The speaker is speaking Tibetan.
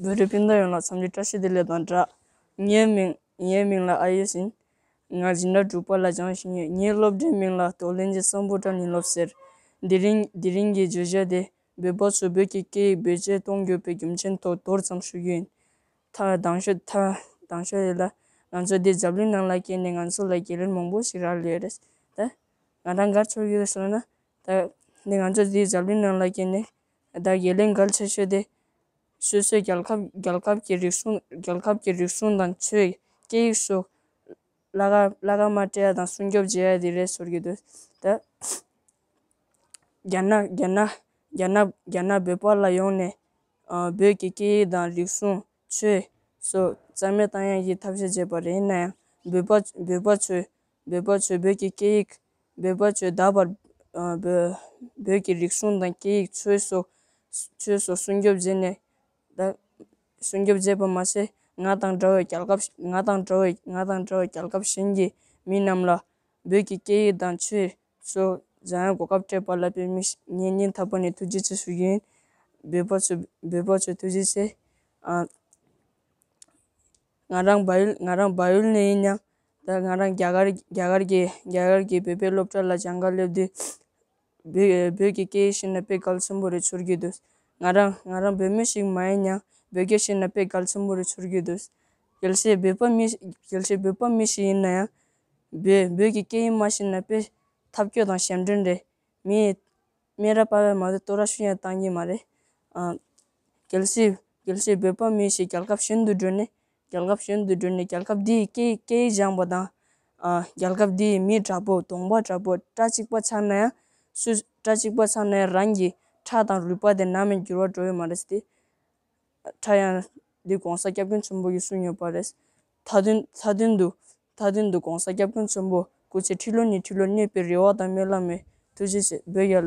བོད་རིགས་སྤུན་ཟླ་ཡོངས་ལ་འཚམས་འདྲི་བཀྲ་ཤིས་བདེ་ལེགས་དང་སྦྲགས། ངའི་མིང། ངའི་མིང་ལ་ཨ་ཡེ་ཟིན། ང་སྦྱིན་བདག་དྲུག་པ་ལ་སྦྱངས་བཞིན་ཡོད། ངའི་སློབ་གྲྭའི་མིང་ལ་ཏོག་གླིང་རྗེ་བཙུན་པོ་ཏྲ་ནི་སློབ་ཟེར། དེ་རིང་དེ་རིང་གི་བརྗོད་བྱ་དེ། བོད་པ་ཚོས་བོད་ཀྱི་སྐད་ཡིག་བེད་སྤྱད་གཏོང་དགོས་པའི་རྒྱུ་མཚན་ཐོག་མདོར་ཙམ་ཞུ་རྒྱུ་ཡིན། མཐར་གདང་ཞུ། མཐར་གདང་ཞུ་རེད་ལ། ང་ཚོ་འདི་འཛམ་གླིང་ནང་ལ་སྐྱེས་ནས་ང་ཚོ་ལ་རྒྱལ་རིམ་མང་པོ་ཞིག་རག་ལས་རེད། ད་ང་རང་འགར་ཆོག་གི་རེད་སོང་ན། ད་འདི་ང་ཚོ་འདི་འཛམ་གླིང་ནང་ལ་སྐྱེས་ནས། ད་དགེ་ལས་འགར་ཆེ་ཤོས་དེ། སོ་སོའི་རྒྱལ་ཁབ་རྒྱལ་ཁབ་ཀྱི་རིག་གཞུང་རྒྱལ་ཁབ་ཀྱི་རིག་གཞུང་དང་ཆོས་སྐད་ཡིག་སོགས། བླ་གར་བླ་གར་མ་སྤྲད་ཡ་དང་སྲུང་སྐྱོབ་བྱེད་ཡ་དེ་རེད་ཟེར་གྱི་འདུག་ད། རྒྱ་ནག་རྒྱ་ནག་རྒྱ་ནག་རྒྱ་ནག་བོད་པ་ལ་ཡོང་ནས། བོད་ཀྱི་སྐད་ཡིག་དང་རིག་གཞུང། ཆོས། སོགས་རྩ་མེད་བཏང་ཡང་ཡིད་ཐབས་ཤེས་བྱས་པ་རེད་ཡིན་ན་ཡང། འབོད་པ། འབོད་པ་ཆོས། འབོད་པ་ཆོས་བོད་ཀྱི་སྐད་ཡིག། འབོད་པ་ཆོས་ད་བར། བོད་ཀྱི་རིག་གཞུང་དང་སྐད་ཡིག་ཆོས་སོགས། ཆོས་སོགས་སྲུང་སྐྱོབ་བྱས་ནས། ད། སྲུང་སྐྱོབ་བྱས་པ་མ་ཟད་ང་དང་འདྲ་བའི་རྒྱལ་ཁབ། ང་དང་འདྲ་བའི་རྒྱལ་ཁབ་གཞན་གྱི་མི་རྣམས་ལ། བོད་ཀྱི་སྐད་ཡིག་དང་ཆོས། བསོད་ནམས་གོ་སྐབས་སྤྲད་པ་ལ་བོད་མི་ངེད་གཉིས་འཐབ་པ་ནས་ཐུགས་རྗེ་ཆེ་ཞུ་རྒྱུ་ཡིན། བོད་པ་ཚོས་བོད་པ་ཚོས་ཐུགས་རྗེ་ཆེ། ང་རང་འབའ་ཡུལ་ང་རང་འབའ་ཡུལ་ནས་ཡིན་ཡང་ད་ང་རང་རྒྱ་གར་རྒྱ་གར་གྱི་རྒྱ་གར་གྱི་བོད་པའི་སློབ་གྲྭ་ལ་སྦྱང་དགའ་སླེབས་དུས། བོད་བོད་ཀྱི་སྐད་ཡིག་ཤེས་ན་དཔེ་གལ་ཆེན་པོ་རེད་ཚོར་གྱི་འདུག་ང་རང་ང་རང་བོད་མི་ཞིག་མ་ཡིན་ཡང་བོད་སྐད་ཤེས་ན་དཔེ་གལ་ཆེན་པོ་རེད་ཚོར་གྱི་འདུག་གལ་སྲིད་བོད་པ་མི་གལ་སྲིད་བོད་པ་མི་ཞིག་ཡིན་ན་ཡང། བོད་ཀྱི་སྐད་ཡིག་མ་ཤེས་ན་དཔེ། ཐབས་སྐྱོ་དང་ཞབས་འདྲེན་རེད། མིའི། སྨན་ར་སྤར་བས་མ་ཚད་སྟོད་ར་ཤུ་ཡང་བཏང་གིན་མ་རེད། གལ་སྲིད། གལ་སྲིད་བོད་པ་མི་ཞིག་རྒྱལ་ཁབ་གཞན་དུ་འགྲོ་ནས། རྒྱལ་ཁབ་གཞན་དུ་འགྲོ་ནས་རྒྱལ་ཁབ་འདི་ཡི་སྐད་ཡིག་སྐད་ཡིག་སྦྱངས་པ་དང། རྒྱལ་ཁབ་འདི་ཡི་མི་དྲག་པོ་གདོང་པ་དྲག་པོ་སྐྲ་གཅིག་པ་ཚང་ན་ཡང། སུ། སྐྲ་གཅིག་པ་ཚང་ན་ཡང་རང་གི་ཁྲག་དང་རུས་པ་དེ་ནམ་ཡང་འགྱུར་བ་འགྲོ་ཡི་མ་རེད་ཟེར་ཏེ། ཁྲག་ཡང། འདི་གོང་ས་སྐྱབས་མགོན་ཆེན་པོ་གིས་གསུངས་ཡོད་པ་རེད། མཐའ་དོན་མཐའ་དོན་དུ། མཐའ་དོན་དུ ྋགོང་ས་སྐྱབས་མགོན་ཆེན་པོ་སྐུ་ཚེ་ཁྲི་ལོ་ཉི་ཁྲི་ལོ་གནས་པའི་རེ་བ་དང་སྨོན་ལམ་མོས་ཐུགས་རྗེ་ཆེ་འབོད་རྒྱ་ལོ།